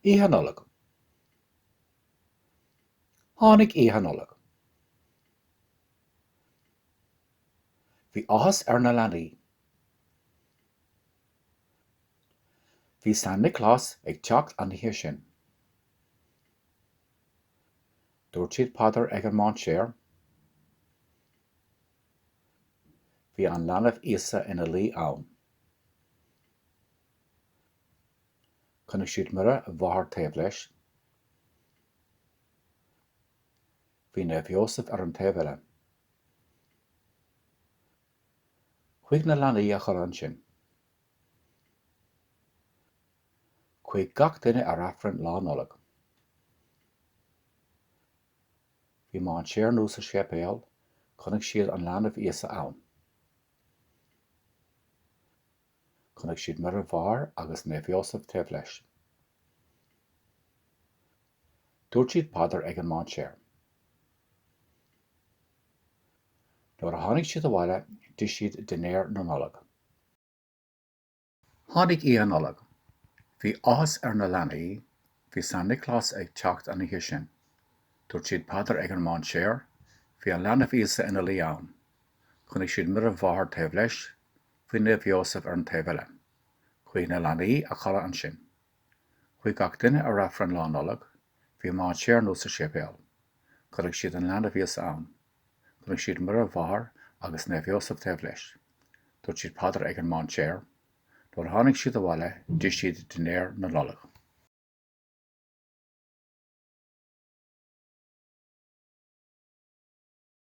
Oíche Nollag. Tháinig Oíche Nollag. Bhí áthas ar na leanaí. Bhí San Nioclás ag teacht an oíche sin. Dúirt siad paidir ag an mainséar. Bhí an leanbh Íosa ina luí ann. Chonaic siad Muire Mháthair taobh leis. Bhí Naomh Iósaf ar an taobh eile. Chuaigh na leanaí a chodladh ansin. Chuaigh gach duine ar Aifreann Lá Nollag. Bhí mainséar nua sa séipéal, chonaic siad an leanbh Íosa ann. Chonaic siad Muire Mháthair agus Naomh Ióseph taobh leis. Dúirt siad paidir ag an mainséar. Nuair a tháinig siad abhaile d'ith siad dinnéar na Nollag. Tháinig Oíche Nollag. Bhí áthas ar na leanaí, bhí San Nioclás ag teacht an oíche sin. Dúirt siad paidir ag an mainséar, bhí an leanbh Íosa ina luí ann. Chonaic siad Muire Mháthair taobh leis, Bhí Naomh Ióseph ar an taobh eile. Chuaigh na leanaí a chodladh ansin. Chuaigh gach duine ar Aifreann Lá Nollag. Bhí mainséar nua sa séipéal. Chonaic siad an leanbh Íosa ann. Chonaic siad Muire Mháthair agus Naomh Ióseph taobh leis. Dúirt siad paidir ag an mainséar. Nuair a tháinig siad abhaile, d'ith siad dinnéar na Nollag.